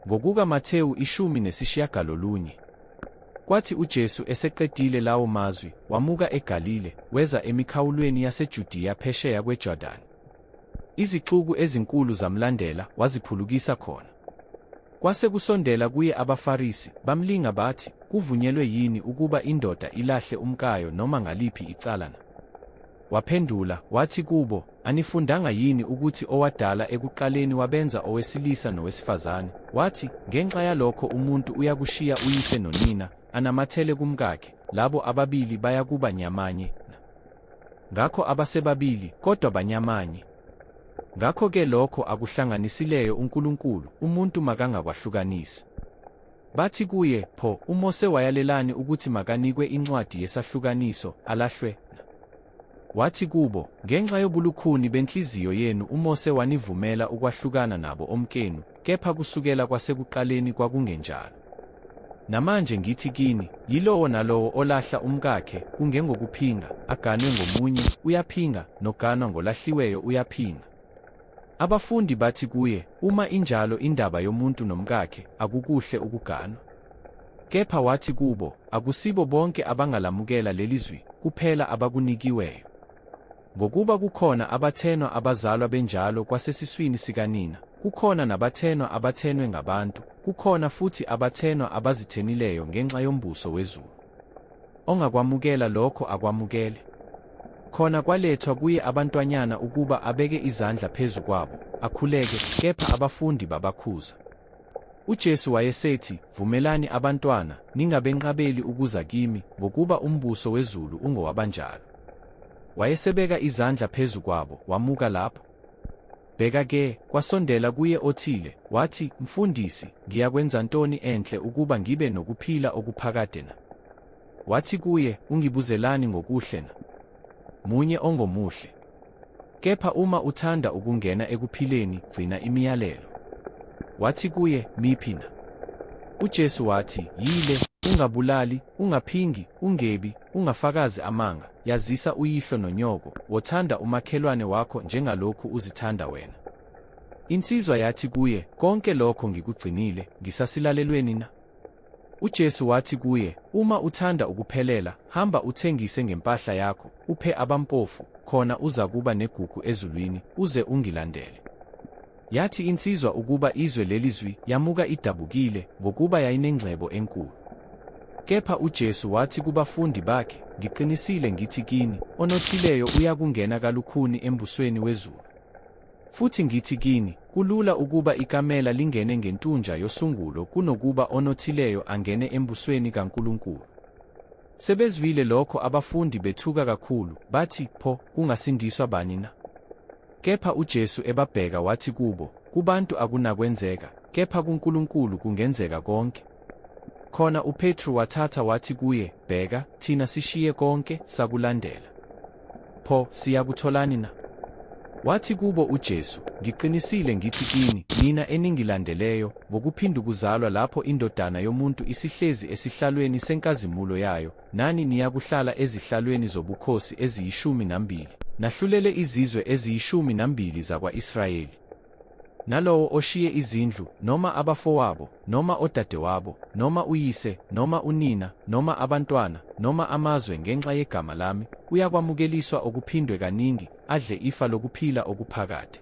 Ngokuka Mathewu ishumi nesishiyagalolunye. Kwathi uJesu eseqedile lawo mazwi, wamuka eGalile, weza emikhawulweni yaseJudiya phesheya kweJordani. Izixuku ezinkulu zamlandela, waziphulukisa khona. Kwase kusondela kuye abaFarisi, bamlinga bathi, Kuvunyelwe yini ukuba indoda ilahle umkayo noma ngaliphi icala na? Waphendula, wathi kubo, Anifundanga yini ukuthi owadala ekuqaleni wabenza owesilisa nowesifazane, wathi, Ngenxa yalokho umuntu uyakushiya uyise nonina, anamathele kumkakhe, labo ababili bayakuba nyamanye na? Ngakho abasebabili, kodwa banyamanye. Ngakho-ke lokho akuhlanganisileyo uNkulunkulu, umuntu makangakwahlukanisi. Bathi kuye, Pho, uMose wayalelani ukuthi makanikwe incwadi yesahlukaniso, alahlwe? Wathi kubo, Ngenxa yobulukhuni benhliziyo yenu uMose wanivumela ukwahlukana nabo omkenu, kepha kusukela kwasekuqaleni kwakungenjalo. Namanje ngithi kini, yilowo nalowo olahla umkakhe, kungengokuphinga, aganwe ngomunye, uyaphinga, noganwa ngolahliweyo uyaphinga. Abafundi bathi kuye, Uma injalo indaba yomuntu nomkakhe, akukuhle ukuganwa. Kepha wathi kubo, Akusibo bonke abangalamukela leli zwi, kuphela abakunikiweyo. Ngokuba kukhona abathenwa abazalwa benjalo kwasesiswini sikanina, kukhona nabathenwa abathenwe ngabantu, kukhona futhi abathenwa abazithenileyo ngenxa yombuso wezulu. Ongakwamukela lokho akwamukele. Khona kwalethwa kuye abantwanyana ukuba abeke izandla phezu kwabo, akhuleke, kepha abafundi babakhuza. UJesu wayesethi, Vumelani abantwana, ningabenqabeli ukuza kimi, ngokuba umbuso wezulu ungowabanjalo. Wayesebeka izandla phezu kwabo, wamuka lapho. Bheka ke, kwasondela kuye othile, wathi, Mfundisi, ngiyakwenza ntoni enhle ukuba ngibe nokuphila okuphakade na? Wathi kuye, Ungibuzelani ngokuhle na? Munye ongomuhle. Kepha uma uthanda ukungena ekuphileni, gcina imiyalelo. Wathi kuye, Miphi na? UJesu wathi, Yile, Ungabulali, ungaphingi, ungebi, ungafakazi amanga, Yazisa uyihlo nonyoko, wothanda umakhelwane wakho njengalokhu uzithanda wena. Insizwa yathi kuye, Konke lokho ngikugcinile, ngisasilalelweni na? UJesu wathi kuye, Uma uthanda ukuphelela, hamba uthengise ngempahla yakho, uphe abampofu, khona uzakuba negugu ezulwini, uze ungilandele. Yathi insizwa ukuba izwe leli zwi, yamuka idabukile, ngokuba yayinengcebo enkulu. Kepha uJesu wathi kubafundi bakhe, Ngiqinisile ngithi kini, onothileyo uyakungena kalukhuni embusweni wezulu. Futhi ngithi kini, kulula ukuba ikamela lingene ngentunja yosungulo kunokuba onothileyo angene embusweni kaNkulunkulu. Sebezwile lokho abafundi bethuka kakhulu, bathi, Pho, kungasindiswa bani na? Kepha uJesu ebabheka wathi kubo, Kubantu akunakwenzeka, kepha kuNkulunkulu kungenzeka konke. Khona uPetru wathatha wathi kuye, Bheka, thina sishiye konke, sakulandela. Pho, siyakutholani na? Wathi kubo uJesu, Ngiqinisile ngithi kini, nina eningilandeleyo, ngokuphindukuzalwa lapho iNdodana yomuntu isihlezi esihlalweni senkazimulo yayo, Nani niyakuhlala ezihlalweni zobukhosi eziyishumi nambili, nahlulele izizwe eziyishumi nambili zakwa-Israyeli. Nalowo oshiye izindlu, noma abafowabo, noma odadewabo, noma uyise, noma unina, noma abantwana, noma amazwe ngenxa yegama lami, uyakwamukeliswa okuphindwe kaningi, adle ifa lokuphila okuphakade.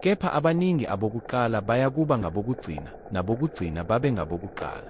Kepha abaningi abokuqala bayakuba ngabokugcina, nabokugcina babe ngabokuqala.